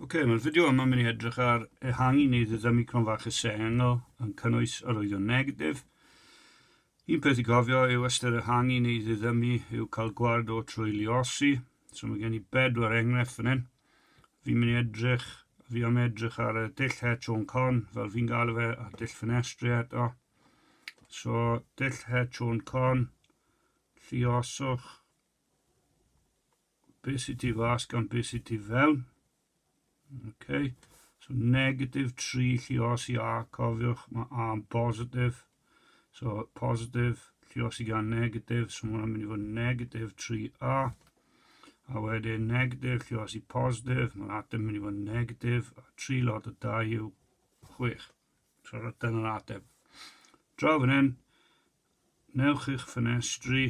Ok, mae'r fideo yma mynd i edrych ar ehangu neu ddiddymu cron fach y sengl yn cynnwys yr oeddion negatif. Un peth i gofio yw ystyr ehangu neu ddiddymu yw cael gward o trwy liosi. So mae gen i bedwar enghraifft fan hyn. Fi'n mynd i edrych, fi am edrych ar y dull het o'n con, fel fi'n gael fe, a'r dull ffenestri eto. So, dull het o'n con, llioswch, Be sydd tu fas gan be sydd tu fewn. Okay. So negatif 3 llios i A, cofiwch, mae A yn positif. So positif, llios i gan negatif, so mae'n mynd i fod negatif 3A. A wedyn negatif llios i positif, mae'r ateb mynd i fod negatif, a 3 lot o 2 yw 6. So rydyn yn ateb. Draw fan hyn, newch eich ffenestri,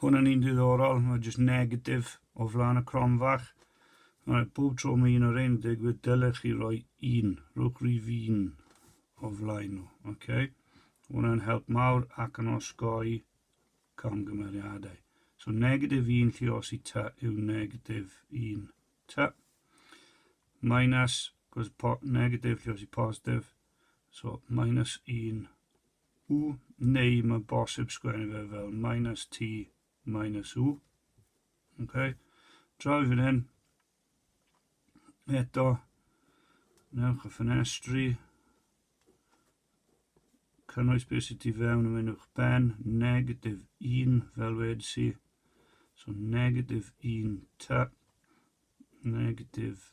Hwn yn un diddorol, mae jyst negatif o flaen y crom fach. Right, bob tro mae un o'r ein digwydd, dylech chi roi un, rhywch rif un o flaen nhw. Okay? Hwna'n help mawr ac yn osgoi camgymeriadau. So negatif un lle os i ta yw negatif un ta. Minus, cos negatif lle os i positif. So minus un u, neu mae bosib sgwennu fe fel minus t minus u. Okay. Draw i fan hyn. Eto, newch y ffenestri, cynnwys beth sydd ti fewn yn mynd o'ch ben, negatif 1 fel wedi si. So negatif 1 ta, negatif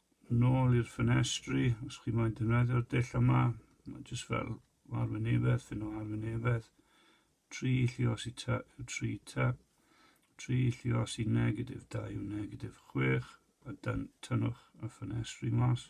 Nôl i'r ffenestri, os chi moyn defnyddio'r dull yma, mae jyst fel arwynebedd, fyn o arwynebedd, tri llios i ta yw tri ta, tri llios i negatif da yw negatif chwech, a dan tynnwch y ffenestri mas.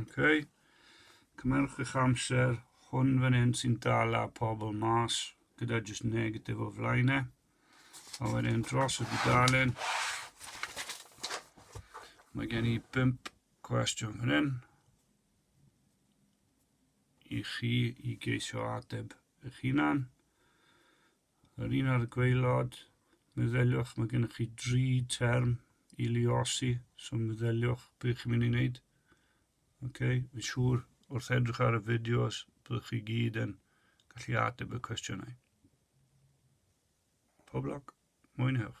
Okay. Cymerwch eich amser, hwn fan hyn sy'n dal a pobl mas, gyda jyst negatif o flaen e. A wedyn dros y dudalen, mae gen i bimp cwestiwn fan hyn i chi i geisio ateb eich hunan. Yr un ar y gwaelod, meddyliwch, mae gennych chi dri term i liosi, so meddyliwch beth chi'n mynd i wneud. Okay? Yn siŵr, wrth edrych ar y fideos, byddwch chi gyd yn gallu ateb y cwestiynau. Pob lwc, mwynhewch.